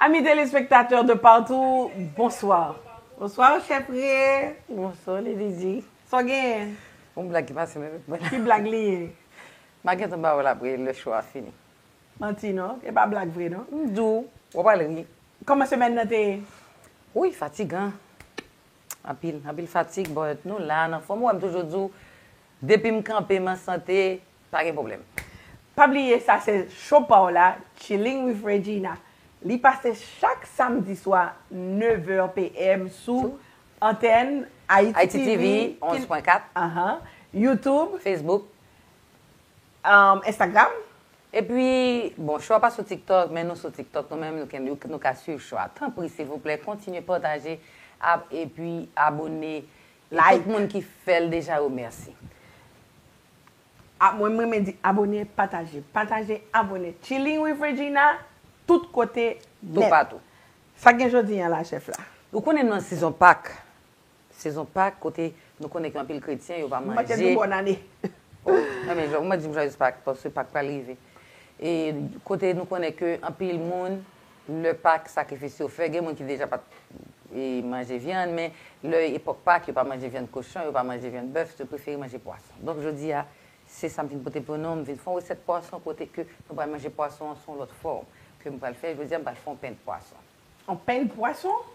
Amis telespektatè de patou, bonswa. Bonswa ou chè priye. Bonswa li di di. Sa w genyen? Yon blag ki pase nan tèt mwen. Ki blag li ye? Ma gentan ba ou la pri lè show a fini. Manti non, e pa blag vre non. M di w, w ap al ri. Kòman semèn nan te ye? Wouyy fatigan. Anpil, anpil fatig but nou la, an anfòm. Ou wè m toujou di w, depi m kanpe, m an sante, pa gen pwoblèm. Pa bliye sa se show pa w la, Chilling with Regina. Li pase chak samdi swa 9 è PM sou antèn Haïti TV 11.4, Youtube, Facebook, Instagram. Epi, bon, chwa pa sou TikTok, men nou sou TikTok nou menm, nou ka swiv chwa. Tanpri, silvouplè, kontinye pataje ap epi abone. E tout moun ki fè l deja yo, mèsi. Mwen, m renmen di abone, pataje. Pataje, abone. Chilling with Regina, tout kote, nèt. Toupatou. Sa k gen jodi an la, chèf la? Ou konnen nou nan sezon Pak. Sezon Pak kote nou konnen gen anpil kretyen yo pa manje. M ap te di w bòn ane. O, nan men jwè. Ou mwen di m jwayèz Pak paske Pak pral rive. E kote nou konnen ke anpil moun lè Pak sakrifis yo fè gen moun ki deja pa t manje vyann men lè epòk Pak yo pa manje vyann kochon yo pa manje vyann bèf yo prefere manje pwason. Donk jodi a se sa m vin pote pou nou m vin fè yon resèt pwason kote ke nou pral manje pwason an sou yon lòt fòm ke m pral fè. Jodi a m pral fè yon pen pwason. Yon pen pwason?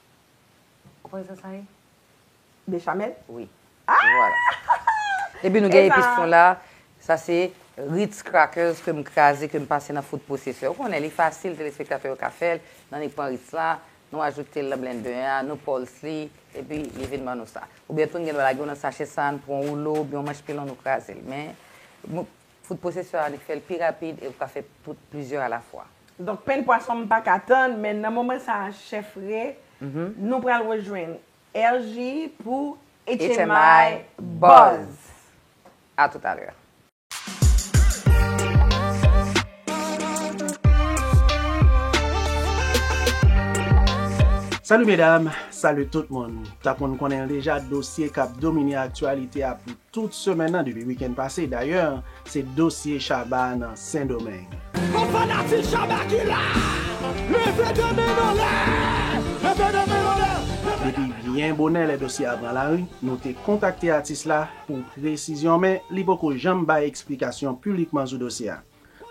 Ou konnen sa sa ye? Bechamel? Wi. Epi nou gen epis nou la. Sa se Ritz crackers ke m kraze, ke m pase nan food processor. Ou konnen li fasil, telespektatè yo ka fè l. N annik pran Ritz la, nou ajoute l nan blendè a, nou pulse li, epi li vin ban nou sa. Oubyen tou n gen dwa lage yo nan sachè sa, n pran yon woulo, oubyen yon manch pilon nou kraze l. Men, Fout pwosesè a li k fèl pi rapid e ou ka fè tout plizyè a la fwa. Donk pen pwason m paka tann men nan moman sa a chèf Ray nou pral rejwenn RJ pou HMI buzz. A tout a lè. Salut mesdames, salut tout moun. Tank moun konnen l deja dosye kap domine aktyalite a pou Tout semèn nan depi wikenn pase dayè se dosye Shabba nan Sendomeng. Tout fanatik Shabba ki la leve 2 men n anlè leve 2 men n anlè. Depi byen bonè lè dosye a pran lari nou te kontakte atis la pou presizyon men li poko janm bay eksplikasyon pulikman sou dosye a.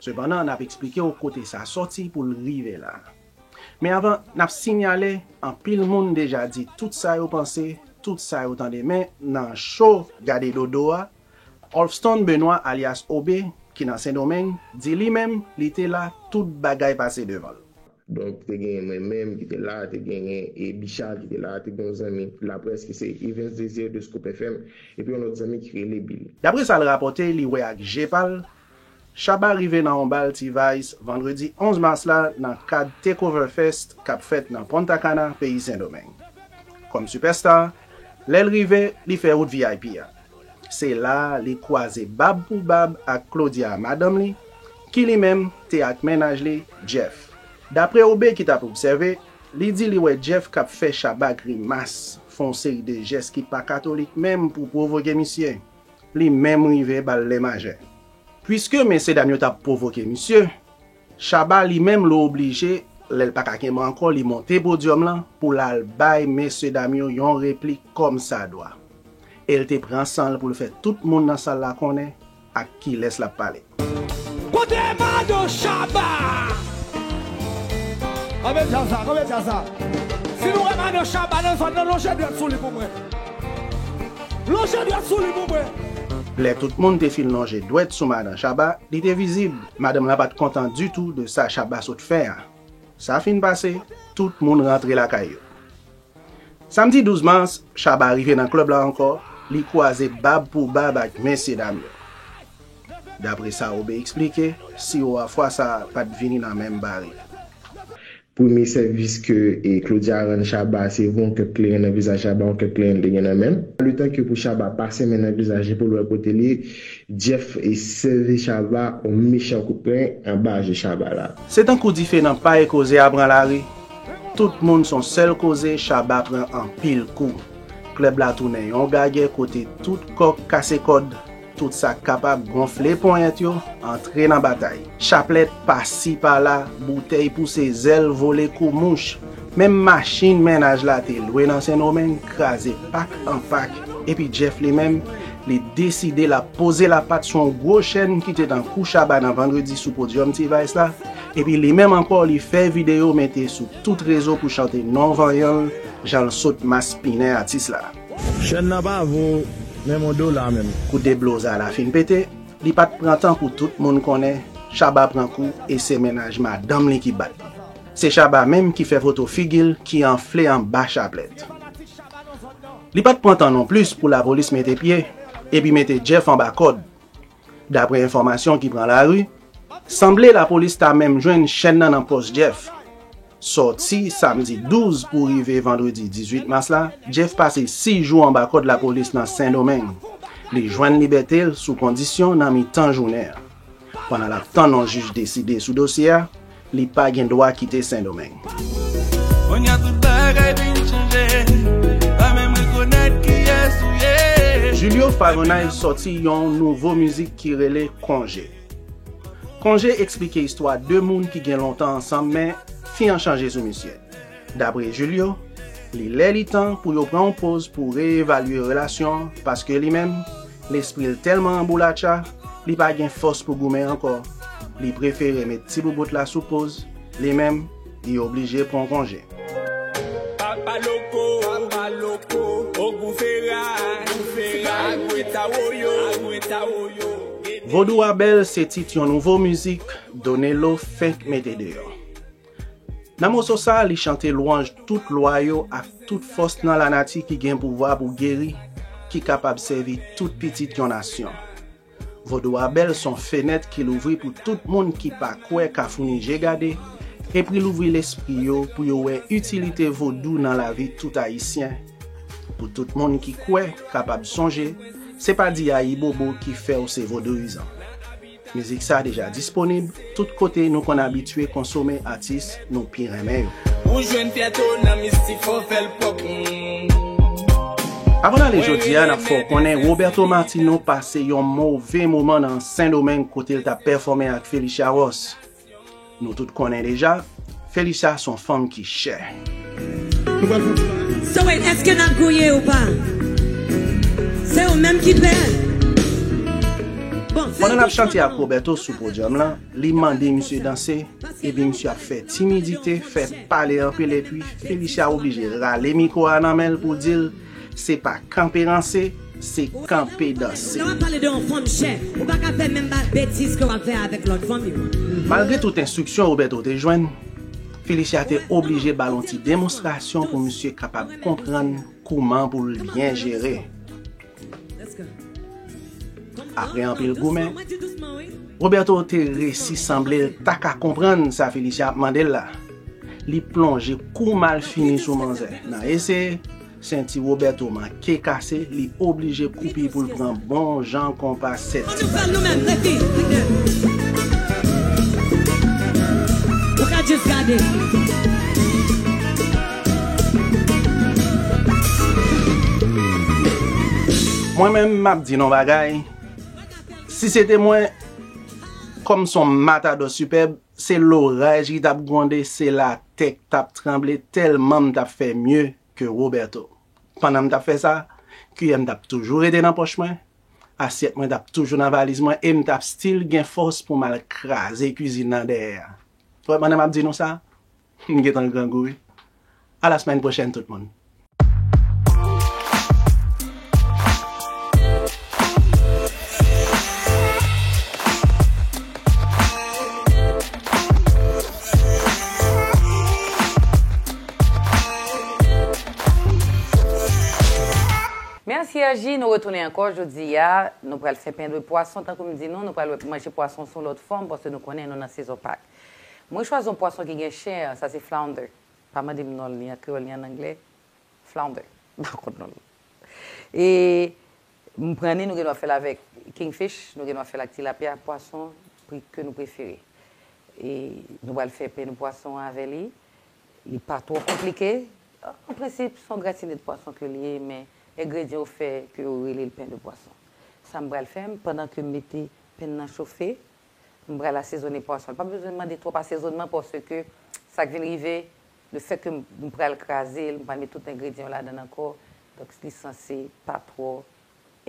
Sepandan, n ap eksplike w kote sa sòti pou l rive la. Men avan, n ap sinyale, anpil moun deja di tout sa yo panse, tout sa yo tande men nan cho Gade Dodo a, Olfston Benoit alyas Obe ki nan Sendomeng di li menm li te la tout bagay pase devan l. Donk te genyen mwen menm ki te la, te genyen Bicha ki te la, te gen yon zanmi laprès ki se Evens Desir de Scoop FM epi yon lòt zanmi ki rele Billy. Daprè sa l rapòte li wè ak je pa l, Shabba rive nan on bal T-Vice vandredi 11 mas la nan kad Takeover Fest k ap fèt nan Punta Cana, peyi Sendomeng. Kòm sipèstar, lè l rive, li fè wout vip a. Se la a li kwaze bab pou bab ak Claudia, madanm li, ki li menm te ak mennaj li, Jeff. Dapre Obe ki t ap obsève, li di li wè Jeff k ap fè Shabba grimas, fè on seri de jès ki pa katolik menm pou pwovoke misye. Li menm rive ba l lè majè. Puiske mesye dam yo t ap pwovoke misye, Shabba li menm l oblije lè l pa ka kenbe ankò li monte podyòm lan pou l al bay mesye dam yo yon replik kòmsadwa. E l te pran san l pou l fè tout moun nan sal la konnen ak kilès l ap pale. Kote Mado Shabba? Kanpe djaz la, kanpe djaz la. Si nou wè Mado Shabba nan zòn nan lonje dwèt sou li pou mwen. Lonje dwèt sou li pou mwen. Lè tout moun te fin lonje dwèt sou Madan Shabba, li te vizib, madanm la pat kontan ditou de sa Shabba sot fè a. Sa fin pase, tout moun rantre lakay yo. Samdi 12 mas, Shabba rive nan klèb la ankò, li kwaze bab pou bab ak mesye dam yo. Dapre sa Obe eksplike, siwo a fwa sa pa t vini nan menm barik. Premye sèvis ke Claudia rann Shabba se voye yon kèk kleren nan vizaj Shabba, yon kèk kleren li te gen nan men l. Letan ke pou Shabba pase men nan vizaj li pou l wè kote l ye, Jeff sèvi Shabba yon mechan kout pren anba je Shabba la. Se tankou dife nan pay koze a pran lari. Tout moun son sèl koze Shabba pran anpil kou. Klèb la tounen yon gagè kote tout kòk kase kòd, tout sa k kapab gonfle ponyèt yo antre nan batay. Chaplèt pasi pala, boutèy pouse zèl vole kou mouch. Menm machin mennaj la te lwe nan Sendomeng kraze pak an pak epi Jeff li menm, li deside l ap poze lapat sou yon gwo chèn ki te nan kou Shabba nan Vandredi sou podyòm T-Vice la, Epi li menm ankò li fè video mete sou tout rezo pou chante non vanyan l jan l sot maspinen atis la. Chèn nan pa vo menm yon dola menm. Kou Deblosa la fin pete, li pat pran tan pou tout moun konnen Shabba pran kou e se mennaj madanm li ki bat li. Se Shabba menm ki fè foto figi l ki anfle anba chaplèt. Li pat pran tan non plis pou lapolis mete pye epi mete Jeff anba kòd. Daprè enfòmasyon ki pran lari, sanble lapolis ta menm jwenn chèn nan nan pòch Jeff. Sòti samdi 12 pou rive vandredi 18 mas la, Jeff pase 6 jou anba kòd lapolis nan Sendomeng. Li jwenn libète l sou kondisyon nan mitan jounen an. Pandan l ap tann yon jij deside sou dosye a, Li pa gen dwa kite sendomeng. Konya tout bagay vin chanje pa menm rekonèt kiyès ou ye. Julio Fagonay sòti yon nouvo mizik ki rele Konje. Konje eksplike istwa 2 moun ki gen lontan ansanm men, fi an chanje sou misye. Dapre Julio, li lè li tan pou yo pran yon poz pou reyevalye relasyon an paske li menm, lespri l tèlman anboulatcha, li pa gen fòs pou goumen ankò, li prefere met ti boubout la sou poz, li menm, li oblije pran yon konje. Papa Loko, Papa Loko, Ogou Fera, Ogou Fera, Agwe Tawoyo, Agwe Tawoyo, Gede. Vodou a bèl se tit yon nouvo mizik Donelo fenk mete deyò. Nan moso sa a, li chante lwanj tout lwa yo ak tout fòs nan lanati ki gen pouvwa pou geri, ki kapab sèvi tout pitit yon nasyon. Vodou a bèl, s on fenèt ki louvri pou tout moun ki pa kwè ka founi je gade, epri louvri lespri yo pou yo wè itilite vodou nan lavi tout Ayisyen, pou tout moun ki kwè kapab sonje se pa di ayibobo ki fè w se vodouyizan. Mizik sa deja disponib tout kote nou konn abitye konsome atis nou pi renmen yo. Ou jwenn fyète w nan mistik fò w fè l pwòp humm. Avan n ale jodi a n ap fè w konnen Roberto Martino pase yon move moman nan Sendomeng kote l t ap pèfòme ak Phélicia Ross. Nou tout konnen deja Felicia son fanm ki chè. So wait eske nap gouye ou pa? Se ou menm ki pè? Pandan nap chante ak Roberto sou podyòm lan, li mande misye danse, epi misye ap fè timidite, fè pale anpil epi Felicia oblije rale mikwo a nan menl pou dil. Se pa kanpe ranse, se kanpe danse. Lè wap pale de yon fanm chè, ou pa ka fè menm betiz ke wap fè avèk lòt fanm yo. Malgre tout enstriksyon Roberto te jwenn, Félicia te oblije ba l yon ti demonstrasyon pou misye kapab konprann kouman pou l byen jere. Apre anpil goumen, Roberto te resi sanble l ta ka konprann sa Félicia ap mande l la. Li plonje kou malfini sou manzè. Nan ese, senti Roberto manke kase, li oblije koupi pou l pran bon jan konpa 7 ti bal. Mwen menm m ap di n on bagay, si se te mwen, kòm s on matadò sipèb, Se loraj ki tap gwonde se la tè k tap tranble tèlman m tap fè mye ke Roberto. Pandan m tap fè sa, kiyè m tap toujou rete nan pòch mwen, asyèt mwen tap toujou nan valiz mwen e m tap stil gen fòs pou m al kraze kizin nan dèyè a. Wè pandan map di nou sa, M gentan grangou wi. A la semaine prochaine tout moun. Merci RJ, nou retounen ankò jodi a, nou pral fè pen de pwason tankou m di nou, nou pral wè pou manje pwason sou lòt fòm paske nou konnen nou nan sezon pak. Mwen chwazi yon pwason ki gen chen an, sa se flounder. Pa mande m non l ni an kreyòl ni an angle. Flounder. M pa konn non l. E m pran ni nou gen dwa fè l avèk kingfish, nou gen dwa fè l ak tilapya, pwason ke nou prefere. E nou pral fè pen de pwason avè li. Li pa twò konplike. An prensip, se yon gratine de pwason ke li ye, men engredyan yo fè ke yo rele l pen de pwason. Sa m pral fè, pandan ke m mete pen nan chofe, m pral asezone pwason. Li pa bezwen mande twòp asezonman paske sa k vin rive, lefètke m pral kraze l, m pral met tout engredyan yo ladan l ankò, donk li sanse pa twò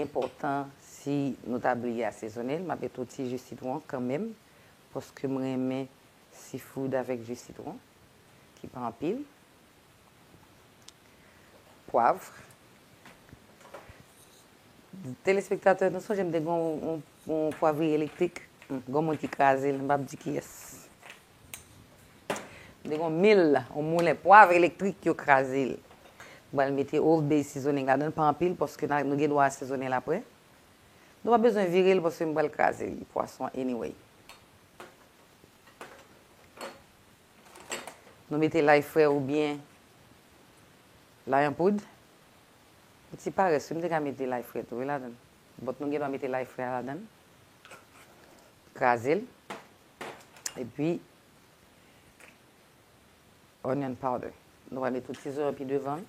enpòtan. Si nou ta bliye asezone l, m ap met yon ti ji sitwon kanmenm paske m renmen seafood avèk ji sitwon ki pa anpil. Pwavr. Telespektatè, nou sonje m te gen yon. Yon pwavri elektrik, gon moun ki kraze l, m pap di kiyès. M te gon mil, yon moulen pwav elektrik yo kraze l. M pral mete Old Bay Seasoning ladan l, pa anpil paske nou gen dwa asezone l aprè. Nou pa bezwen vire l paske m pral kraze l, pwason an anyway. Nou mete lay fre oubyen lay an poud. Yon ti parès wi, m te ka mete lay fre tou wi ladan l. Bòt nou gendwa mete lay fre a ladan l, kraze l, epi onion powder. Nou pral met tout ti zo yo pi devan.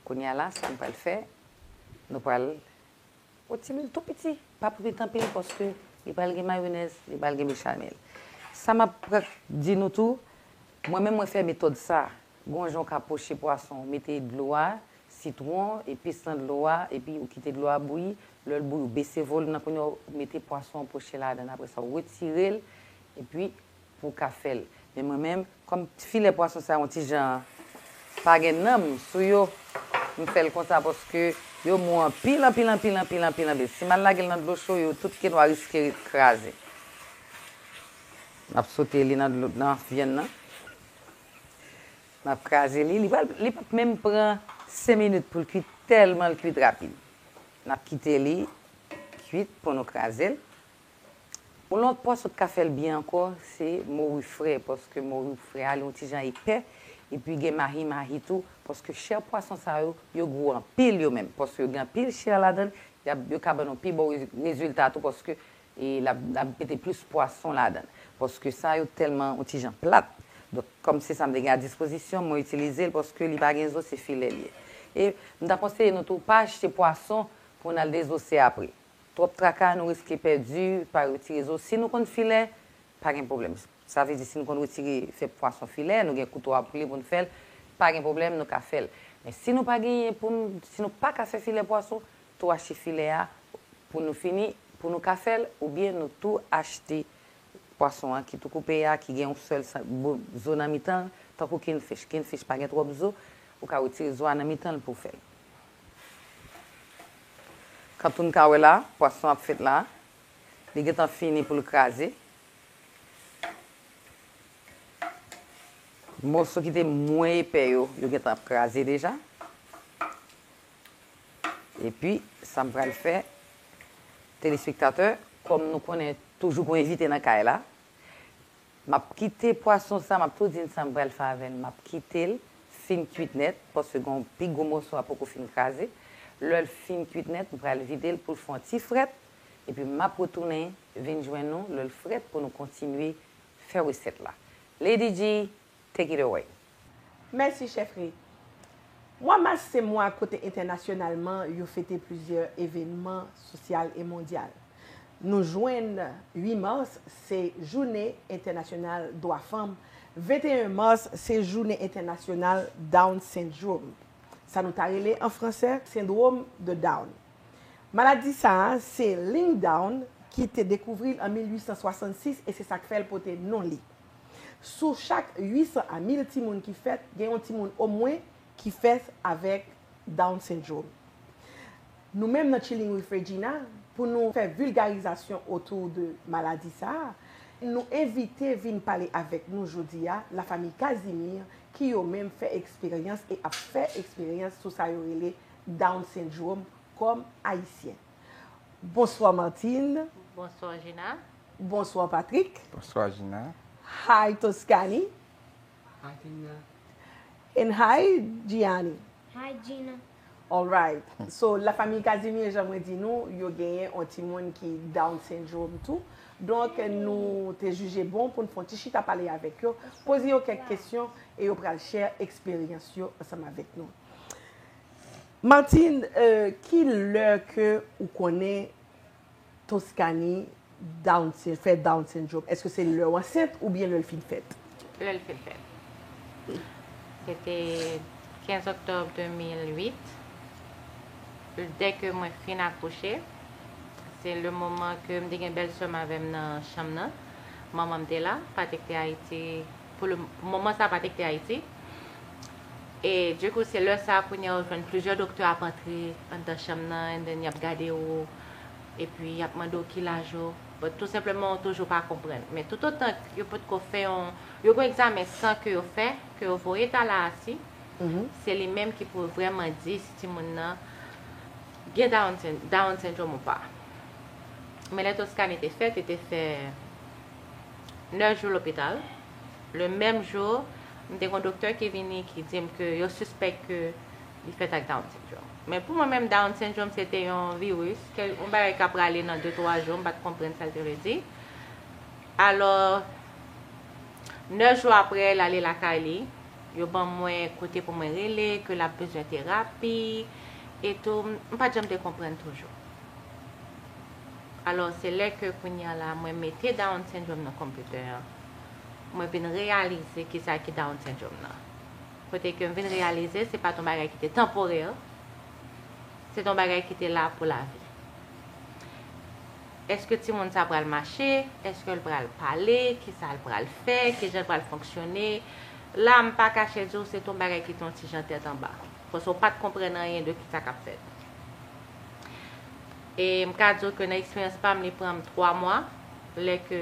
Kounye a la, sa nou pral fè, nou pral yon ti lwil tou piti, pa pou kwit anpil paske li pral gen mayonèz, li pral gen bechamel. Sa m ap di nou tou, mwen menm mwen fè metòd sa Gon jan w ka poche pwason, ou mete dlo a, sitwon, epis nan dlo a epi ou kite dlo a bouyi, lè l bouyi ou bese volum nan kounya ou mete pwason an poche ladan l apresa ou retire l epi pou w ka fè l men mwen menm kòm filè pwason sa yo yon ti jan pa gen nanm sou yo m fè l konsa paske yo mou anpil anpil anpil anpil anpil anpil si m al lage l nan dlo cho yo tout kenwa riske kraze. N ap sote li nan vyann nan. Map kraze li, li pral li pap menm pran 5 minit poul kwit tèlman l kwit rapid. Nap kite li kwit pou nou krazel. Yon lòt pwòs ou t ka fèl byen ankò se mori fre paske mori fre a li yon ti jan epè epi gen mahi mahi tou paske chè pwason sa yo yo gou anpil yo menm paske yo gen anpil chè ladann yo ka ban nou pi bon rezilta tou paske E lap lap mete plis pwason ladann. Paske sa yo tèlman yon ti jan plat. Donk kòm se sa m te gen a dispozisyon, mwen itilize l paske li pa gen zo se filè li ye. E m ta konseye nou tou pa achte pwason pou n al dezose apre. Twòp traka nou riske pèdi, pa retire zo. Si nou konn filè, pa gen pwoblèm. Sa vle di si nou konn retire, fè pwason filè, nou gen kouto a pou li pou n fè l, pa gen pwoblèm nou ka fè l. Men si nou pa genyen pou n, si nou pa ka fè filè pwason, tou achte filè a pou nou fini pou nou ka fèl oubyen nou tou achte pwason an ki tou koupe a ki gen yon sèl zo nan mitan l tankou king fish, king fish pa gen twòp zo ou ka retire zo a nan mitan l pouw fèl kantou n ka wè la pwason ap fèt la li gentan fini poul kraze moso ki te mwen epè yo yo gentan ap kraze deja. Epi sam pral fè telespektatè kòm nou konnen toujou gon envite nan kay la map kite pwason sa map tou dinn sam pral fè avèl map kitel fin kuit nèt paske gon pi gwo mòso a poko fin kraze lèl fin kuit nèt m pral videl poul fon ti frèt epi map retounen vin jwenn nou lèl frèt pou nou kontinye fè resèt la Lady Dee take it away. Mèsi chèf Ray. Mwa mas se mwa kote entènasyonalman yo fete plizyè evenman sosyal e mondyal. Nou jwenn 8 mas se Jounen Entènasyonal Dwa Fanm, 21 mas se Jounen Entènasyonal Down Syndrome, sa nou ta rele an franse Sendwom de Down. Maladi sa a se Ling Down ki te dekouvri l an 1866 e se sa k fè l pote non li. Sou chak 800 a 1000 timoun ki fèt, gen yon timoun omwen ki fèt avèk Down Syndrome. Nou menm nan Chilling with Regina, pou nou fè vilgarizasyon otou de maladi sa a, nou envite vin pale avèk nou jodi a Lafamiy Casimir ki yo menm fè eksperyans e ap fè eksperyans sou sa yo rele Down Syndrome kòm Ayisyen. Bonswa Martine. Bonswa Gina. Bonswa Patrick. Bonswa Gina. Hi Toscani. Hi Gina. And hi Gianni. Hi Gina. Alright. So la famiy Casimir jan mwen di nou yo genyen on ti moun ki down syndrome tou. Donk nou te jije bon poun fon ti chita pale avek yo. Poze yo kek kesyon e yo pral share eksperyans yo ansanm avek nou. Martine euh ki lè ke ou konnen Toscani down fè down syndrome eske se lèw ansent oubyen lèl fin fèt? Lèl fin fèt. Se te 15 octobre 2008 dè ke mwen fin akouche se le moman ke m te gen bèl sèm avèm nan chanm nan manmanm te la Patrick te Haïti pou le moman sa pa te kite Ayiti. E du coup se lè sa kounye ou jwenn plizyè doktè ap antre anndan chanm nan and then yap gade ou e pi yap mande ou ki laj ou but tou senpleman ou toujou pa konprann. Men tout otan yo potko fè yon yo gon egzamen san ke yo fè ke yo voye Tallahassee se li menm ki pou vrèman di si timoun nan gen Down Syndrome ou pa. Men lè Toscane te fèt li te fè 9 jou lopital, le menm jou m te gon doktè ki vini ki di m ke yo sispèk ke li fèt ak Down Syndrome. Men pou mwen menm Down Syndrome se te yon virus, yon bagay ka prale nan 2, 3 jou, m pat konprann sa l te vle di. Alò, 9 jou apre l ale lakay li, yo ban mwen kote pou mwen rele, ke l ap bezwen terapi, etou, m pat janm te konprann toujou. Alò se lè ke kounye a la mwen mete Down Syndrome nan konpitè an, mwen vin reyalize ki sa ki Down Syndrome nan. Kote ke m vin reyalize se pa t yon bagay ki te tanporè, se t yon bagay ki te la pou lavi. Eske timoun sa pral mache, eske l pral pale, ki sa l pral fè, ki jan l pral fonksyone, la m pa kache di w se t yon bagay ki te yon ti jan tèt anba. Paske w pa t konprann anyen de ki sa k ap fèt. E m ka di w ke nan eksperyans pa m li pran m 3 mwa, lè ke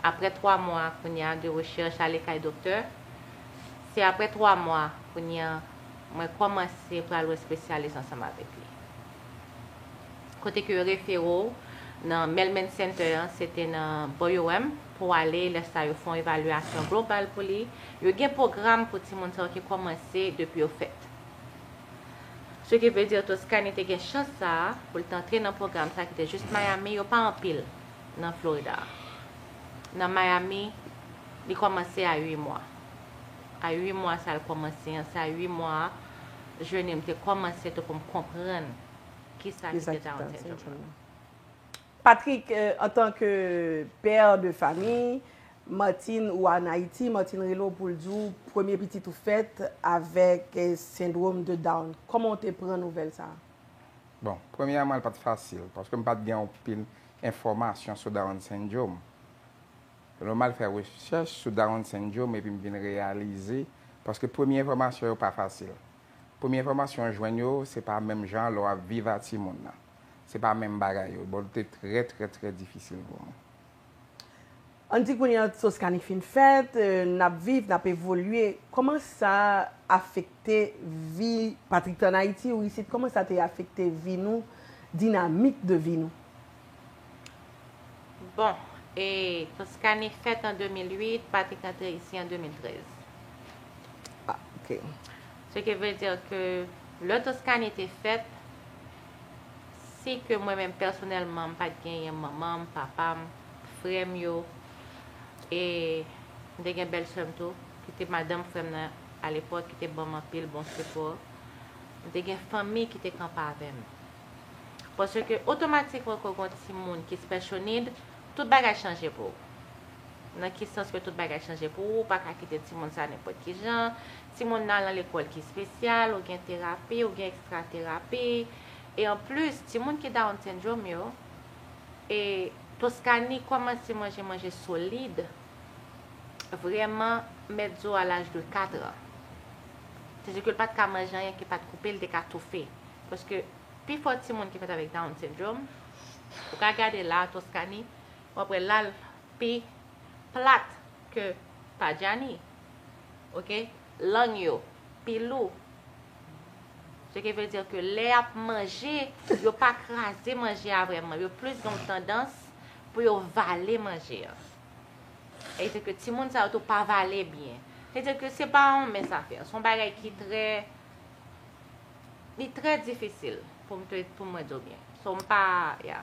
aprè 3 mwa kounye a de rechèch ale kay doktè, se aprè 3 mwa kounye a mwen kòmanse pral wè spesyalis ansanm avèk li. Kote ke yo refere w nan Mehlman Center an, se te nan bò UM pou w ale, lè sa yo fè yon evalyasyon global pou li. Yo gen pwogram pou timoun sa yo ki kòmanse depi yo fèt. Ce qui veut dire Toscani te gen chans sa a pou l t antre nan pwogram sa ki te jis Miami, yo pa anpil nan Florida a. Nan Miami, li kòmanse a 8 mwa. A 8 mwa sa l kòmanse an, se a 8 mwa a jeni m te kòmanse tou pou m konprann kisa ki te Down Syndrome nan. Patrick antan ke père de famille, Martine ou a Haïti, Martine rele w pou l di w premye pitit ou fèt avèk sendrom de Down. Kòman w te pran nouvèl sa a? Bon, premyèman l pa t fasil, paske m pa t gen anpil enfòmasyon sou Down Syndrome. Se nòmal fè rechèch sou Down Syndrome epi m vin reyalize, paske premye enfòmasyon yo pa fasil. Premye enfòmasyon w jwenn yo se pa menm jan lè w ap viv a timoun nan. Se pa menm bagay yo. Bon te trè trè trè difisil pou mwen. Ann di kounye a Toscani fin fèt, n ap viv, n ap evolye. Kòman sa afekte vi Patrick te an Ayiti ou isit? Kòman sa te afekte vi nou, dinamik de vi nou? Bon, e Toscani fèt an 2008, Patrick antre isi an 2013. Ah, ok. Ce qui veut dire que lè Toscani te fèt, si ke mwen menm pèsonèlman m pat genyen manman m, papa m, frè m yo, e m te gen bèl sè m tou, ki te madanm frè m nan alepòk, ki te ban m anpil bon sipò, m te gen fanmi ki te kanpe avè m. Paske otomatikman ke w gen yon timoun ki special need, tout bagay chanje pou ou. Nan ki sans ke tout bagay chanje pou ou, ou pa ka kite timoun sa nenpòt ki jan, timoun nan al nan lekòl ki espesyal, ou gen terapi, ou gen ekstra terapi, e an plis, timoun ki Down Syndrome yo, e Toscanie kòmanse manje manje solid, vrèman, mèt zo a laj de 4 an. Se di ke l pa t ka manje anyen ki pa t koupe, li te ka toufe. Paske, pi fò timoun ki fèt avèk Down Syndrome, ou ka gade la a, Toscanie, Wap wè lal pi plat ke pa Djani ok lang yo pi lou ce qui veut dire que lè yap manje yo pa kraze manje a vrèman yo plis gen yon tandans pou yo vale manje an e se ke timoun sa yo tou pa vale byen se dire ke se pa yon mens a fè son bagay ki trè li trè difisil pou mwen diw byen so mpa ya.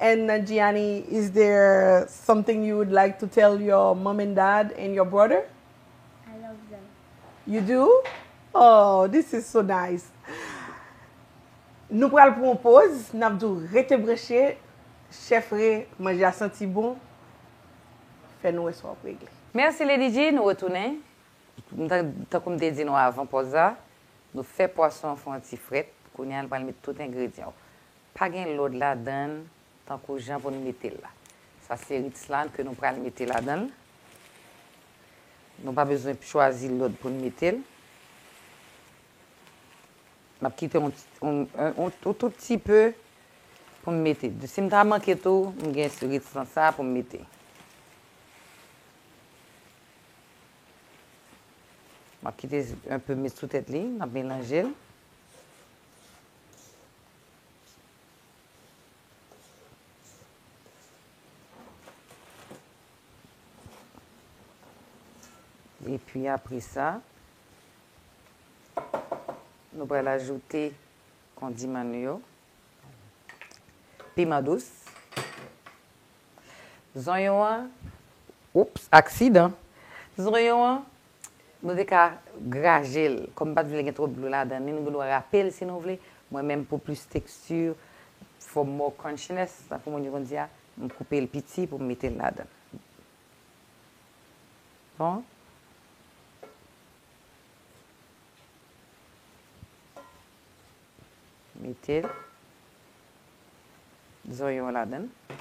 And Nanjiani is there something you would like to tell your mom and dad and your brother? I love them. You do? Aww this is so nice. Nou pral pran yon poz nap di w rete branche chef re manje a santi bon fè nou wè sa wap regle. Merci Lady G, nou retounen. Tankou m te di nou avan pòz la, nou fè pwason an fè yon ti frèt, kounye a nou pral met tout engredyan yo. Pa gen lòd ladan l tankou jan pou n mete l la. Sa se rit slant ke nou pral mete ladan l. Nou pa bezwen chwazi lòd pou n mete l. M ap kite yon tout ti pe pou m mete. Si m ta manke tou, m gen rit slant sa pou m mete. M ap kite yon pe met sou tèt li. M ap melanje l. Epi apre sa, nou pral ajoute kondiman nou yo. Piman dous. Zonyon an, oups, aksidan. Zonyon an, Nou te ka graje l. Kòm m pa t vle gen twòp dlo ladan l ni nou gen dwa rape l si nou vle, mwen menm pou plis teksti, for more crunchiness, tankou moun yo konn di a, m koupe l piti pou m mete l ladan l. Bon. Mete zonyon an ladan l.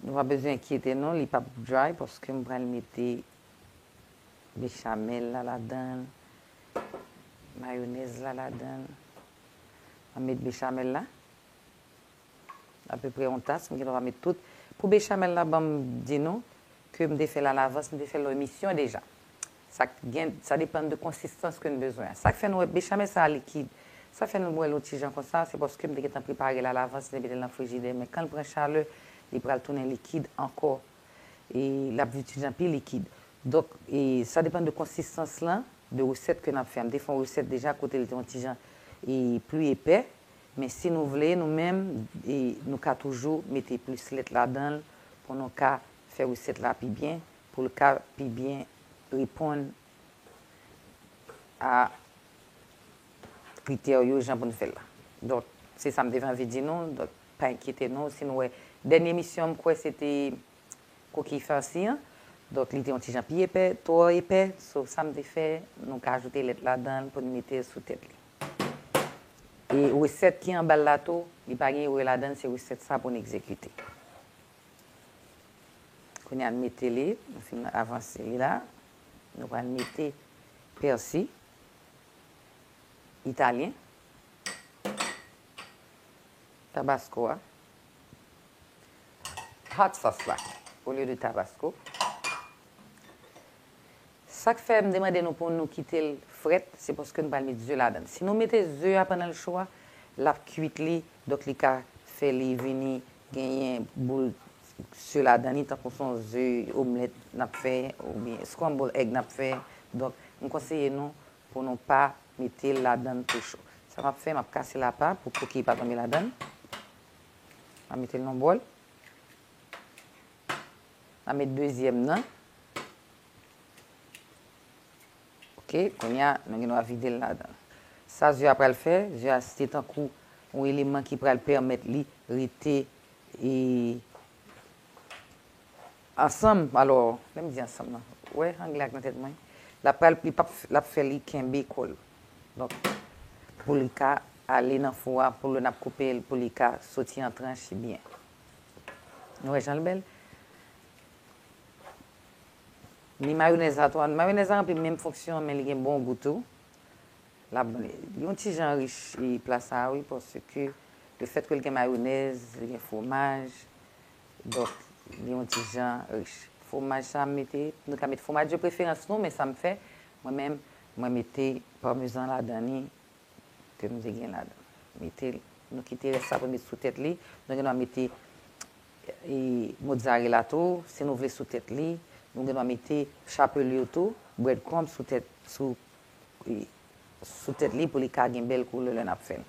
Nou pa bezwen enkyete non li pap dry paske m pral mete bechamel la ladanl mayonèz la ladanl map met bechamel la apeprè yon tas m gen dwa pa met tout pou bechamel la banm di nou ke m te fèl alavans m te fèl lò emisyon deja Sak gen, sa depann de konsistans ke n bezwen an. Sak fè nou wè bechamel sa a likid. Sa fè nou bwè l ou ti jan konsa, se paske m te gentan prepare l a lavans, mete l nan frijidè. Men kan l pran chalè, li pral tounen likid ankò. E l ap vin ti jan pi likid. Donk, e sa depann de konsistans lan, de resèt ke n ap fè. M te fè yon resèt deja kote l te yon ti jan e pli epè. Men si nou vle, nou menm, e nou ka toujou mete plis lèt ladan l pou nou ka fè resèt la pi byen. pou l ka pi byen reponn a kritè yo jan pou n fè l la. Donk, se sa m te vin anvi di nou, donk pa enkyete nou si nou wè dènye emisyon m kwè se te Kokiy Farsi an, donk li te yon ti jan pi epè, twò epè, so sa m te fè, nou ka ajoute lèt ladan l pou n mete l sou tèt li. E resèt ki anba l la tou, li pa gen erè ladan l, se resèt sa pou n egzekite. Kounye a m mete li, m fin avanse li la. Nou pral mete pèsi italyen, tabasko a, hot sauce la olye de tabasko. Sa k fè m te mande nou pou nou kite l frèt, se paske nou pral met ze ladan l. Si nou mete ze a pandan l cho a, l ap kuit li, donk li ka fè li vini Genyen boul ze ladan li tankou son ze omlèt nap fè oubyen scramble egg nap fè donk m konseye nou pou nou pa metel ladann tou cho sa map fè map kasel apa pou kokiy pa tonbe ladann map metel nan bòl map met dezyèm nan. Ok, kounye a, nou gen dwa vide l ladan l. Sa ze a pral fè, ze a se tankou yon eleman ki pral pèmèt li rete ansanm. Alò, lè m di ansanm nan, ou wè angle a k nan tèt mwen? L ap pral, li p ap, l ap fè li kenbe kò l. Donk, pou li ka ale nan fou a, pou lè n ap koupe l, pou li ka soti an tranche byen. Nou wè jan l bèl? Ni mayonèz la tou an. Mayonèz la ranpli menm fonksyon an men li gen bon gou tou. Lap ban li yon ti jan riche pla sa a wi paske le fèt ke li gen mayonèz, li gen fwomaj donk li yon ti jan riche. Fwomaj sa a m mete, nou ka mete fwomaj de preferans nou men sa m fè mwen menm mwen mete parmesan ladan li ke nou te gen la dan. Mete, nou kite rès la pou met sou tèt li. Nou gen dwa mete mozzarella tou, si nou vle sou tèt li. Nou gen dwa mete chapelure tou, bread crumb sou tèt, sou sou tèt li pou li ka gen bèl koulè lè nap fèl.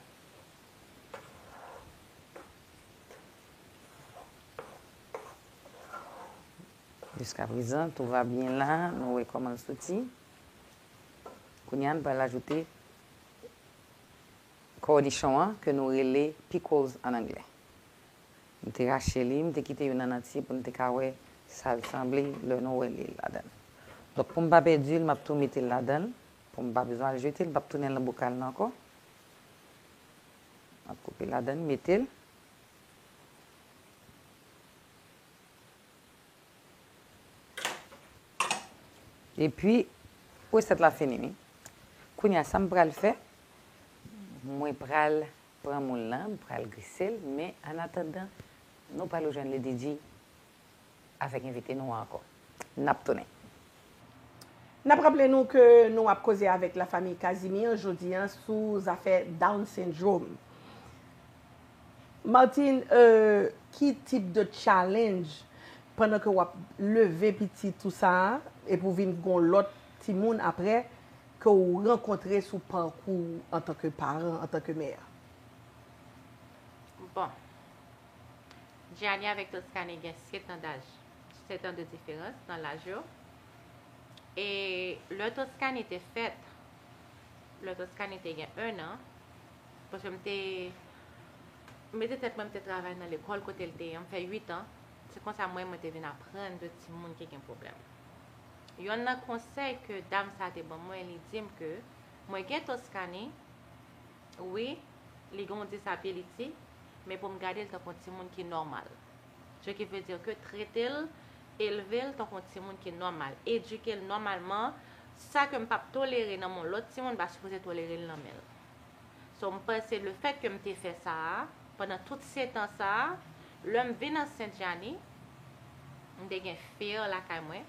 Jiska prezan, tou va byen la. Nou wè kòman l soti. Kounye a, n pral ajoute kònichon an ke nou rele pickles an anglè. M te rache li, m te kite youn an antye pou n te ka wè sa l sanble lè nou wè li ladan l. Donk pou m pa pèdi l, m ap tou mete l ladan l pou m pa bezwen al jete l, m p ap tounen l nan bokal nan ankò. M ap koupe ladan l, mete l. Epi resèt la fini wi. Kounye a sa m pral fè, mwen pral pran moul lan, m pral grise l men an atandan nou pral rejwenn Lady Di avèk envite nou an ankò. N ap tounen. N ap raple nou ke nou ap koze avèk La Famille Casimir jodi an sou zafè Down Syndrome. Martine, ki tip de challenge pandan ke w ap leve pitit ou sa a, epi ou vin gen yon lòt timoun aprè, ke ou rankontre sou pakou ou antanke paran, antanke mè? Bon. Gianni avèk Toscane gen setan daj. 7 an de diferans nan laj yo. E lè Toskani te fèt, lè Toskani te gen 1 an, paske m te mete tèt mwen m te travay nan lekòl kote l te ye, m fè 8 an, se konsa mwen mwen te vin aprann de timoun ki gen pwoblèm. Yonn nan konsèy ke dam sa te ban mwen, li di m ke mwen gen Toskani, wi, li gen yon disability, men pou m gade l tankou yon timoun ki nòmal. Ce qui veut dire que trete l, elve l tankou yon timoun ki nòmal, edike l nòmalman, sa ke m pa p tolere nan men yon lòt timoun m pa sipoze tolere l nan men l. So m panse le fèt ke m te fè sa a, pandan tout setan sa a, lè m vin ansent Djani, m te gen fear lakay mwen,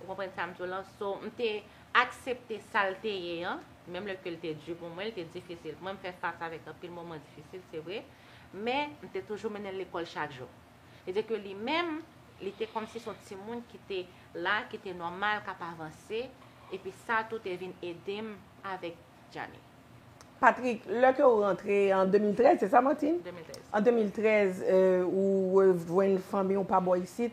Ou konprann sa m di w lan? So, m te aksepte sa l te ye an, menm lè ke l te di pou mwen, l te difisil pou mwen, m fè fas avèk anpil moman difisil, se vre, men, m te toujou mennen l lekòl chak jou. Se di ke li menm, li te kòmsi se yon timoun ki te la, ki te nòmal, k ap avanse, epi sa tou te vin ede m avèk Djani. Patrick, lè ke ou rantre an 2013, se sa Martine? 2013. An 2013, ou rejwenn fanmi ou pa bò isit,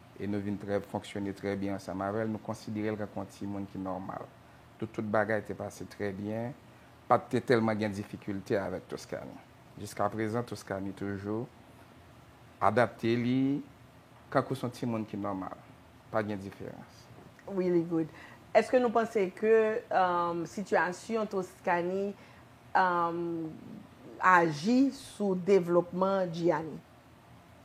E nou vin trè fonksyone trè byen ansanm avè l, nou konsidere l kòk yon timoun ki nòmal. Tou tout bagay te pase trè byen, pa t te tèlman gen difikilte avèk Toscani. Jiskaprezan Toscani toujou adapte li kankou s on timoun ki nòmal, pa gen diferans. Really good. Èske nou panse ke sitiyasyon Toscani aji sou devlopman Gianni?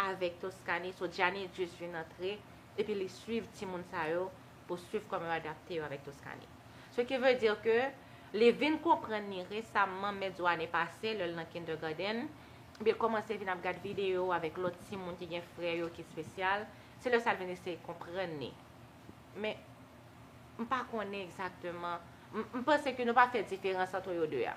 avèk Toscani so Djani just vin antre epi li swiv timoun sa yo pou swiv kòman yo adapte yo avèk Toscani ce qui veut dire ke li vin konprann ni resamman mèt zo ane pase lèl nan kindergarten epi l kòmanse vin ap gad videyo avèk lòt timoun ki gen frè yo ki spesyal se lè sa l vin eseye konprann ni men m pa konnen egzakteman m panse ke nou pa fè diferans antre yo 2 a.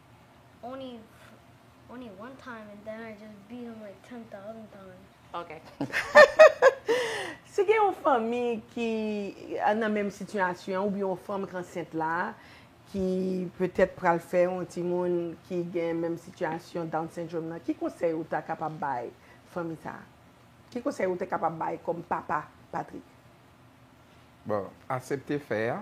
Si gen yon fanmi ki nan menm sitiyasyon oubyen yon fanm k ansent la ki petèt pral fè yon timoun ki gen menm sitiyasyon Down Syndrome nan, ki konsèy ou ta kapab bay fanmi sa a? Ki konsèy ou ta kapab bay kòm papa Patrick? Bon, asepte fè a,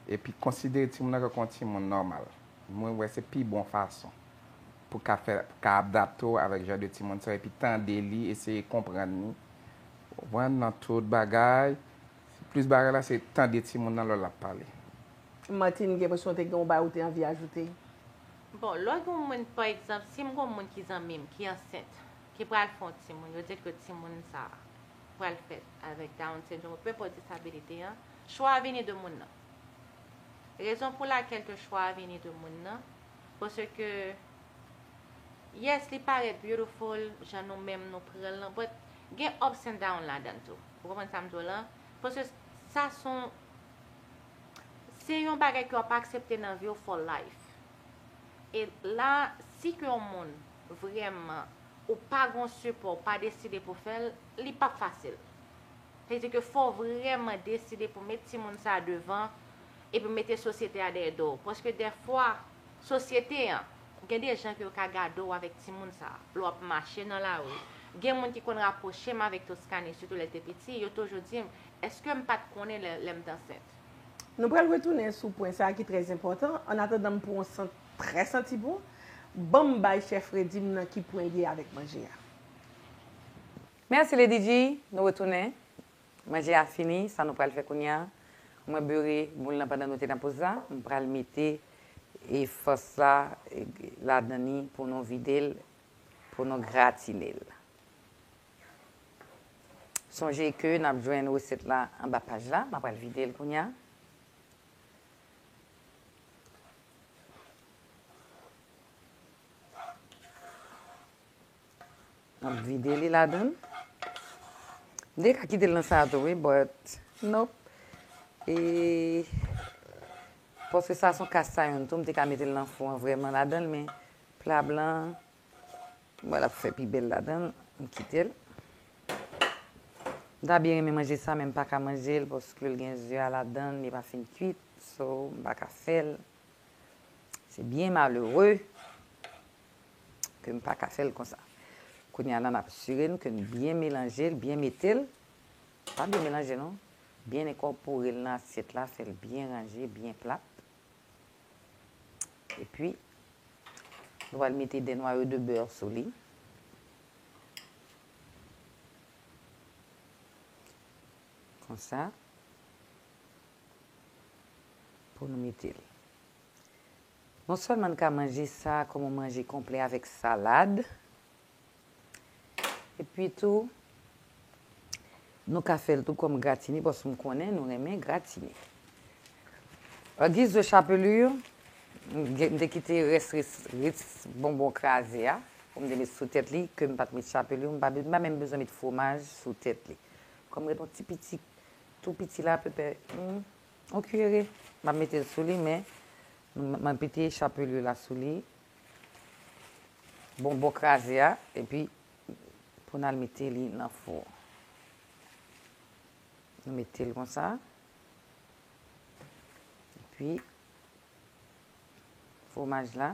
epi konsidere timoun nan tankou yon timoun nòmal. Mwen wè se pi bon fason pou ka fè, pou ka adapte w avèk jan de timoun sa, epi tande li, eseye konprann li, konprann nan tout bagay. Plis bagay la se tande timoun nan lò l ap pale. Martine, gen enpresyon te gen yon bagay ou te anvi ajoute? Bon, lò gen yon moun, pa egzanp, si m gen yon moun ki zanmi m ki ansent, ki pral fè yon timoun, yo di l ke timoun sa a. pral fèt avèk Down Syndrome ou Pèpè Disabilite an, chwa a vini de moun nan. Rezon pou lakèl ke chwa a vini de moun nan, paske yes li parèt beautiful jan nou menm nou pran l lan but gen ups and down ladan l tou. Ou konprann sa m di w lan? Paske sa son se yon bagay ke w ap aksepte nan vi w for life. E la si ke yon moun vrèman ou pa gon sipò ou pa deside pou fèl li pap fasil. Sa vle di ke fò w vrèman deside pou met timoun sa devan epi mete sosyete a dèyè do w. Paske dèfwa sosyete an gen de jan ke yo ka gade w avèk timoun sa. Lè w ap mache nan lari. Gen moun ki konn rapwoche m avèk Toscane sitou lè l te piti yo toujou di m eske m pat konnen lè m t ansent. Nou pral retounen sou pwen sa ki trè enpòtan, annatandan m pran yon sant trè santi bon, ban m bay chè fredi m nan ki pwen l ye avèk manje a. Mèsi Ledidji, nou retounen. Manje a fini, sa nou pral fè kounye a, mwen beure moul lan pandan nou te nan poz la, m pral mete fòs la ladan li pou nou vide l, pou nou gratine l. Sonje ke nap jwenn resèt la anba paj la. Map pral vide l kounya. Map vide li ladan l. M te ka kite l nan sa tou wi but nop. E paske sa son cast iron tou m te ka mete l nan fou an vreman ladan l men plat blan. Bon lap fè pi bèl ladanl m kitel. M ta byen renmen manje sa men m paka manjel paske l gen ze a ladann li pa fin kuit so m paka fèl se byen malere ke m paka fèl konsa. Kounye a la nap sire n ke n byen melanjel byen metel pa byen melanje non byen enkòporel nan asyèt la fèl byen ranje byen plat. E pi, nou pral mete 2 nwayo de beurre sou li. Konsa. Pou nou mete l. Non sèlman n ka manje sa kòm yon manje konplè avèk salad, Epi tou, nou ka fè l tou kòm gratine paske m konnen nou renmen gratine. An giz de chapelure, m te kite rès ritz bonbon kraze a pou m te met sou tèt li ke m pa t met chapelure, m pa menm bezwen met fwomaj sou tèt li. Kòm m ret yon ti piti, tou piti la, pèpè, yon kiyere, m ap mete l sou li men, m ap mete chapelure la sou li. Bonbon kraze a epi pou nal mete li nan fou. Nou metel konsa. Epi fwomaj la.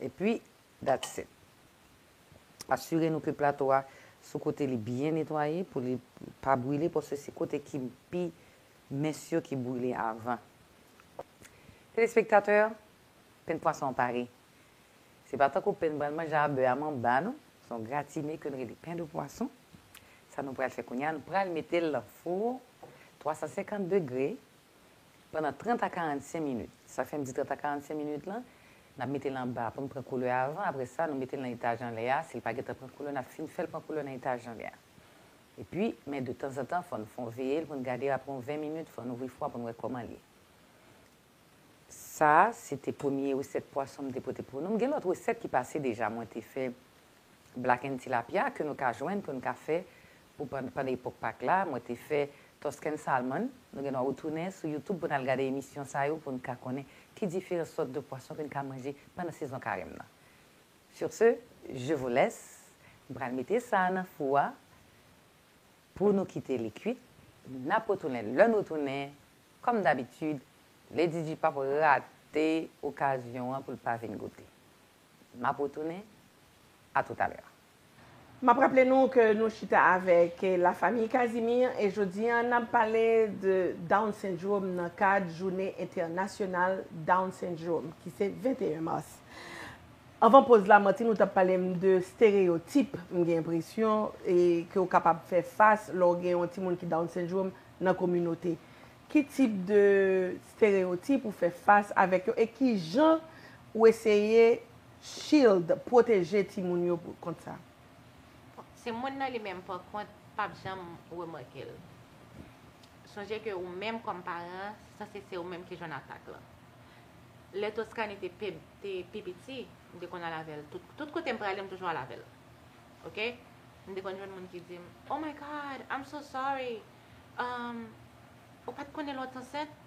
Epi that's it. Asire nou ke plato a sou kote li byen netwaye pou li pa brile paske se kote ki pi Mès yo ki brile avan. Telespektatè, pen pwason an pare. Se pa tankou pen n pral manje a bè a manba non. Se yon gratine ke n rele pen de pwason. Sa nou pral fè kounye a, nou pral mete l nan fou 350 degre pandan 30 a 45 minit. Sa fè m di 30 a 45 minit lan, n ap mete l anba pou l pran koulè avan. Apre sa, nou mete l nan etaj anlè a. Si l pa gentan pran koulè, n ap fin fè l pran koulè nan etaj anlè a. Epi, men de tanzantan fò n fon veye l pou n gade l apre yon 20 minit fò n ouvri fwa pou n wè kòman l ye. Sa a se te premye resèt pwason m te pote pou nou. M gen lòt resèt ki pase deja mwen te fè blaken tilapya ke nou ka jwenn pou n ka fè pou pann pandan epòk pak la. Mwen te fè Tuscan salmon. Nou gen dwa retounen sou youtube pou n al gade emisyon sa yo pou n ka konnen ki diferan sòt de pwason ke n ka manje pandan sezon karèm nan. Sur ce, je vous laisse, m pral mete sa a nan fou a pou nou kite li kuit, n ap retounen lè n retounen, kòm dabitid, le Didi p ap rate okazyon an pou l pa vin goute. M ap retounen, a tout à l'heure. M ap raple nou ke nou chita avèk La Famille Casimir e jodi an n ap pale de Down Syndrome nan kad Joune Entènasyonal Down Syndrome ki se 21 mas. Anvan poz la Martine ou tap palem de stereyotip m gen enpresyon e ke ou kapab fè fas lè ou gen yon timoun ki down syndrome nan kominote. Ki tip de stereyotip ou fè fas avèk yo e kijan ou eseye shield, pwoteje timoun yo kont sa? Bon, se moun nan li menm pa kont pap janm remake l. Sonje ke ou menm kòm paran sanse se ou menm ki jwenn atak lan. Lè Toscane te te pi piti, m te konn al avè l tout, tout kote m prale m toujou al avè l. Ok. M te konn jwenn moun ki di m, Oh my God, I'm so sorry, umm, ou pa t konnen lè w t ansent?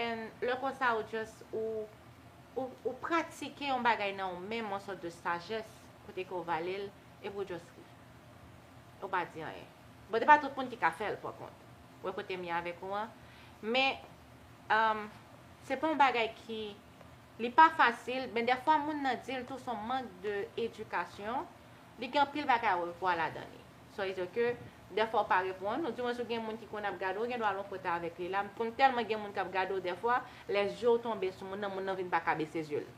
And lè konsa ou just, ou, ou, ou pratike yon bagay nan ou menm, yon sòt de sajès, kote ke w vale l, epi ou just ri. Ou pa di anyen. Bon, se pa tout moun ki ka fè l, pa kont. Ou wè kote m ye avèk ou an? Men, Umm se pa yon bagay ki li pa fasil men dèfwa moun nan dil tou son mank de edikasyon li gen anpil bagay a revwa ladan li sa vle di ke dèfwa ou pa reponn ou di mwen si ou gen moun ki konn ap gade ou gen dwa al yon kote avèk li la m konn tèlman gen moun kap gade ou dèfwa lè zye ou tonbe sou moun nan moun nan vin paka bese zye l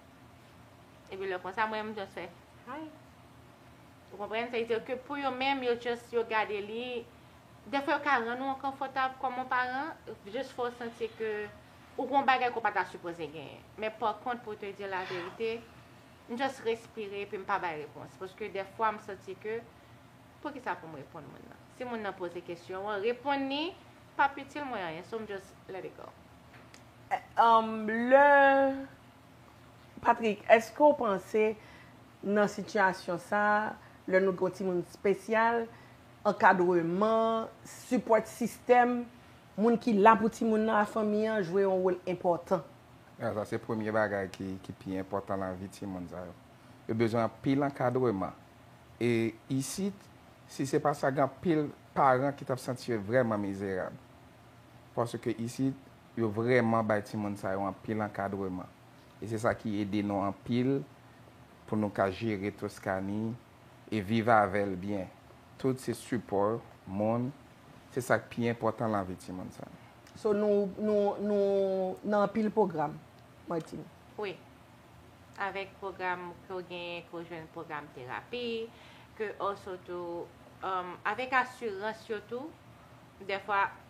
epi lè konsa mwen m just fè hi. Ou konprann? Sa vle di ke pou yo menm, yo just yo gade li, defwa yo ka rann ou enkonfòtab kòm yon paran, jis fè w santi ke ou gen yon bagay ke w pa ta sipoze genyen. Men pa kont pou te di w laverite, m just respire epi m pa bay repons. Paske defwa m santi ke, poukisa pou m reponn moun nan? Si moun nan poze kesyon an, reponn li p ap itil mwen anyen. So m just let it go. Lè Patrick, èske w panse nan sitiyasyon sa a, lè nou gen yon timoun espesyal, ankadreman, sipòt sistèm, moun ki la pou timoun nan ak fanmi an jwe yon wòl enpòtan? A, sa se premye bagay ki pi enpòtan nan vi timoun sa yo. Yo bezwen anpil ankadreman. E isit, si se pa sa, gen anpil paran ki t ap santi yo vrèman mizerab. Paske isit, Yo vrèman bay timoun sa yo anpil ankadreman e se sa ki ede nou anpil pou nou ka jere Toscani e viv avè l byen. Tout se sipò moun, se sa k pi enpòtan lavi timoun sa yo. So nou nou nou nan anpil pwogram, Martine? Wi. Avèk pwogram ke w genyen, ke w jwenn pwogram terapi, ke also tou avèk asirans yo tou dèfwa.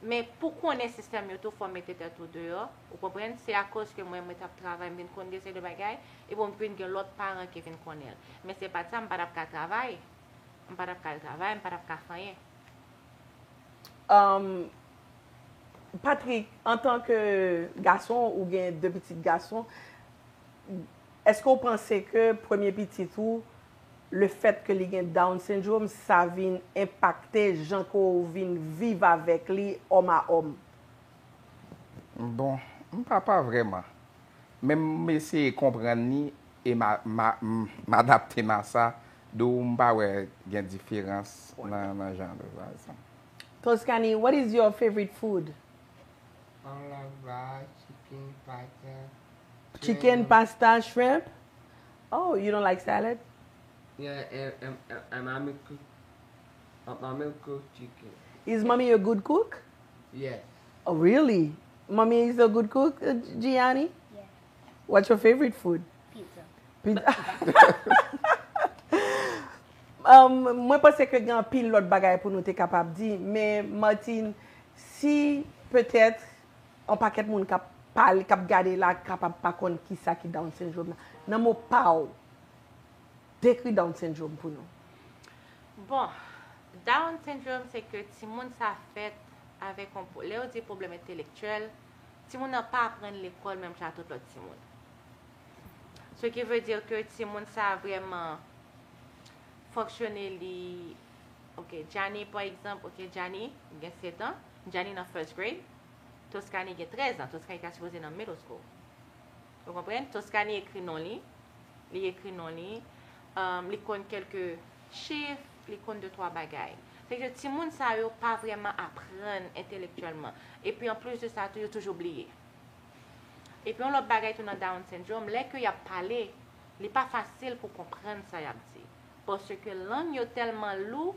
Men pou konnen sistèm yo tou fò w mete tèt ou deyò, ou konprann, se akoz ke mwen mwen t ap travay m vin konn gen seri de bagay, epi m vin gen lòt paran ki vin konnen l. Men se pa t sa, m pa t ap ka travay, m pa t ap ka al travay, m pa t ap ka fè anyen. Humm Patrick, antan ke gason ou gen 2 pitit gason, èske ou panse ke premye pitit ou Le fèt ke li gen Down Syndrome sa vin enpakte jan ke w vin viv avèk li òm a òm? Bon, m pa pa vrèman. Men m eseye konprann li e m m adapte m a sa, dou m pa wè gen diferans nan jan de bagay sa. Toscany, What is your favorite food? All of that, chicken, pasta, shrimp. Chicken, pasta, shrimp. Oh you don't like salad? Yeah and mommy cook mommy cook chicken. Is mommy a good cook? Yes. Oh really? Mommy is a good cook Gianni? Yes. What's your favorite food? Pizza. Pizza. Mwen panse ke gen pil lot bagay pou nou te kapab di, men Martine, si petèt On pakèt moun kap pale kap gade la kapab pa konn kisa ki down syndrome nan. Nan mo paw dekri down syndrome pou nou. Bon, down syndrome se ke timoun sa fèt avèk on lè yo di pwoblèm entelektyèl, timoun nan pa aprann lekòl menm jan a tout lòt timoun. Ce qui veut dire ke timoun sa vrèman fonksyone li, ok Djani pa egzanp, ok Djani gen 7 ans, Djani nan first grade, Toscanie gen 13 ans, Toscanie ta sipoze nan middle school. Ou konprann? Toscanie ekri non li, li ekri non li, li konn kelke chif, li konn de twa bagay. Se ke timoun sa yo pa vreman aprann entelektyèlman. E pi an plis de sa tou yo toujou bliye. E pi yon lòt bagay tou nan down syndrome, lè ke yap pale, li pa fasil pou konprann sa yap di. Paske lang yo tèlman lou,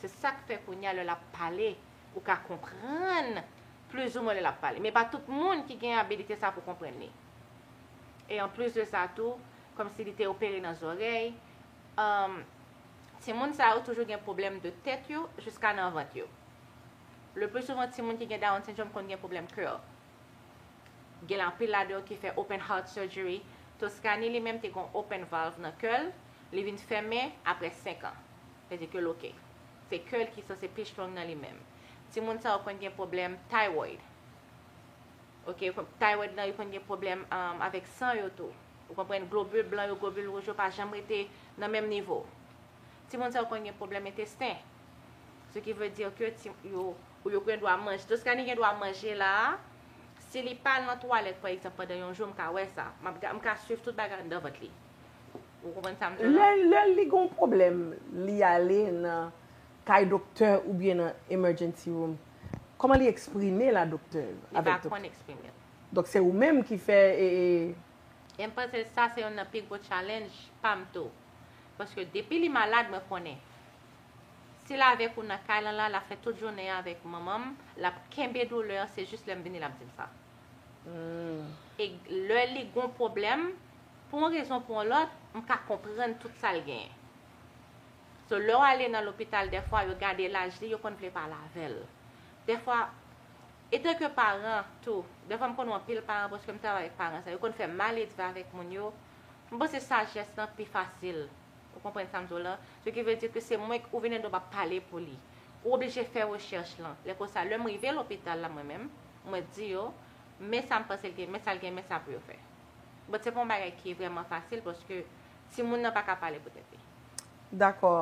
Se sa k fè kounye a lè l ap pale, ou ka konprann plizoumwen lè l ap pale. Men pa tout moun ki gen abilite sa a pou konprann li. E anplis de sa tou, kòmsi li te opere nan zòrèy, timoun sa yo toujou gen pwoblèm de tèt yo jiska nan vant yo. Leplisouvan timoun ki gen Down Syndrome konn gen pwoblèm kè. Gen anpil ladan yo ki fè open heart surgery. Toscany li menm te gen yon open valve nan kè l, li vin fèmen apre 5 an. Pedicule ok. Se kè l ki sanse pi strong nan li menm. Timoun sa yo konn gen pwoblèm thyroid. Ok, thyroid lan yo konn gen pwoblèm avèk san yo tou. Ou konprann? Globule blan yo, globule wouj yo pa janm rete nan menm nivo. Timoun sa yo konn gen pwoblèm entesten. Se ki vle di ke ti yo, ou yo gen dwa manje. Toscanie gen dwa manje la a. Si li pa al nan twalèt pa egzanp pandan yon jou m ka wè sa. M ka swiv tout bagay anndan vant li. Ou konprann sa m di w la? Lè li gen yon pwoblèm, li ale nan kay doktè oubyen nan emergency room, kòman li eksprime l a doktè? Li pa konn eksprime l. Donk se ou menm ki fè e. E m panse sa se youn nan pi gwo tchalenj pa m tou. Paske depi li malad mwen konnen. Si l avèk ou nan kay lan la, l ap fè tout jounen an avèk manman m, l ap kenbe doulè an, se jis lè m vini l ap di m sa. E lè li gon pwoblèm, pou yon rezon pou yon lòt, m ka konprann tout sa l genyen. So, lè w ale nan lopital dèfwa, yo gade laj li, yo konn vle pale avè l. Dèfwa, etanke paran tou, dèfwa m konn wè anpil paran paske m travay avèk paran sa, yo konn fè maledve avèk moun yo. M panse sajès lan pi fasil. Ou konprann sa m di w lan? Se ki vle di ke se mwen k, ou vin endi w pa pale pou li. Ou oblije fè rechèch lan. Lè konsa, lè m rive lopital la mwen menm, Mwen di yo, Men sa m panse l gen, men sa l gen, men sa pou yo fè. But se pa yon bagay ki vrèman fasil paske timoun nan pa ka pale pou tèt li. Dakò.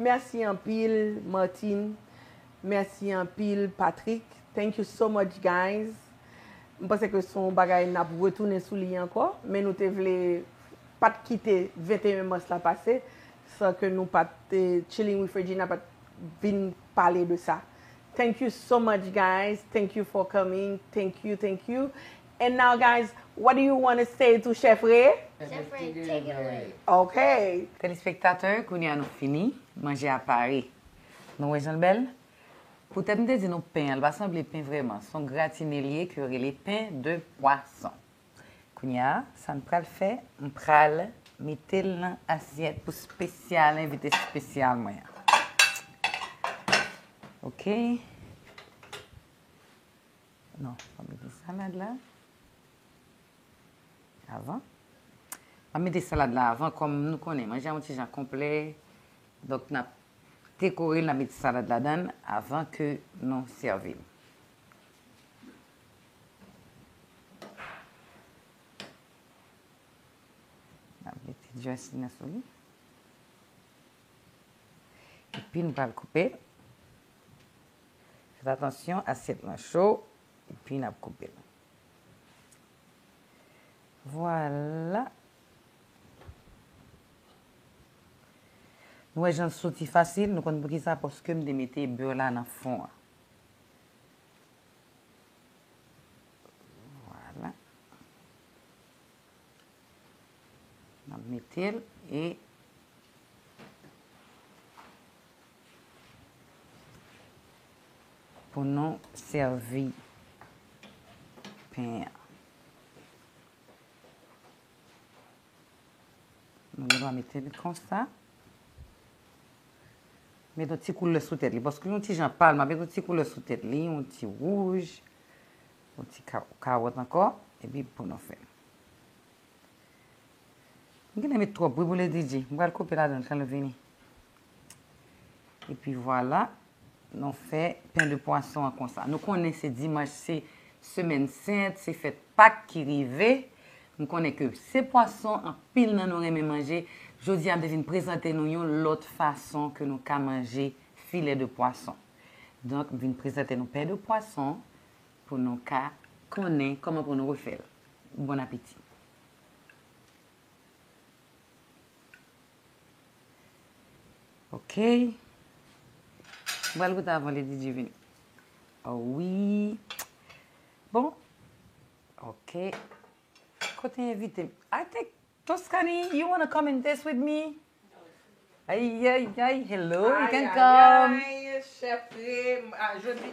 Mèsi anpil Martine. Mèsi anpil Patrick. Thank you so much guys. M panse ke se yon bagay n ap retounen sou li ankò. Men nou te vle pa t kite 21 mas la pase san ke nou pa t Chilling with Regina pa t vin pale de sa. Thank you so much guys thank you for coming thank you thank you and now guys what do you wanna say to chef ree? Chef ree take it away! Ok! Telespektatè kounye a nou fini, manje a pare. Nou wè jan l bèl? Poutèt m te di nou pen an l pa sanble pen vrèman, s on gratine l ye ke yo rele pen de pwason. Kounya sa n pral fè, m pral mete l nan asyèt pou spesyal envite spesyal mwen an. Ok. Non, m ap mete salad la avan. M ap mete salad la avan kòm nou konnen manje an yon ti jan konplè. Donk n ap dekore l, n ap mete salad ladan l avan ke nou sèvi l. Nap mete dressing nan sou li. Epi nou pral koupe. Fèt atansyon asyèt lan cho. Epi nap koupe. Vwala. Nou wè jan l soti fasil. Nou konn poukisa. Paske m te mete beur la nan fon an. Vwala. N ap mete l e. Pou nou sèvi pen an. Nou gen dwa mete li konsa. Met yon ti koulè sou tèt li. Paske li yon ti jan pal. M ap met yon ti koulè sou tèt li. Yon ti wouj. Yon ti kawòt ankò. E pi pou nou fè. M gen dwa met twòp bouboule DJ. M pral koupe ladan l kan l vini. E pi vwala. Nou fè pen de pwason an konsa. Nou konnen se dimanch se semèn sent, se fèt Pak ki rive. Nou konnen ke se pwason anpil nan nou renmen manje. Jodi a m te vin prezante nou yon lòt fason ke nou ka manje filè de pwason. Donk m vin prezante nou pen de pwason pou nou ka konnen kòman pou nou refè l. Bon apeti! Ok. Mwen goute avan Lady Di vini. Oh oui. Bon. Ok. Kote invite m? I think Toscani, you wanna come in this with me? Ay, ay, ay. Hello, you can come. Ay, ay, ay. Chef Ree, ah, jodi.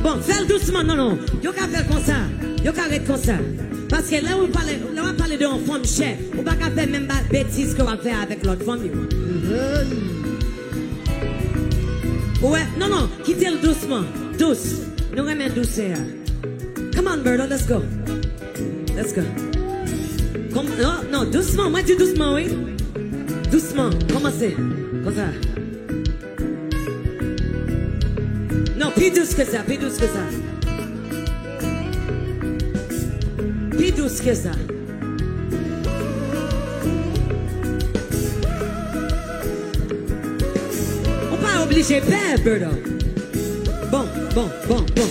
Bon, fèl dousman non non, yo ka fèl konsa, yo ka ret konsa. Paske lè ou pale, lè wap pale de yon fanm chè, ou pa ka fè menm ba, betiz ke wap fè avèk lòt fanm yo. Ou wè, non non, kitel dousman, dous, nou renmen dousè a. Come on Berto, let's go. Let's go. Kom, non, non, dousman, mwen di dousman wi. Dousman, komanse, konsa. Non pi dous ke sa, pi dous ke sa Pi dous ke sa Ou pa oblije pè Bertho Bon, bon, bon, bon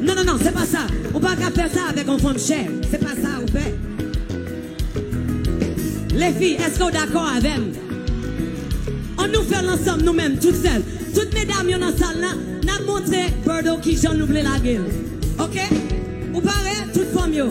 Non non non se pa sa ou pa ka fè sa avèk yon fanm chè se pa sa ou fè Lefi eske ou dakò avèm an nou fèl ansanm nou menm tout sèl tout medam yo nan sal la nap montre Berdo kijan nou vle lagel ok ou pare tout fanm yo.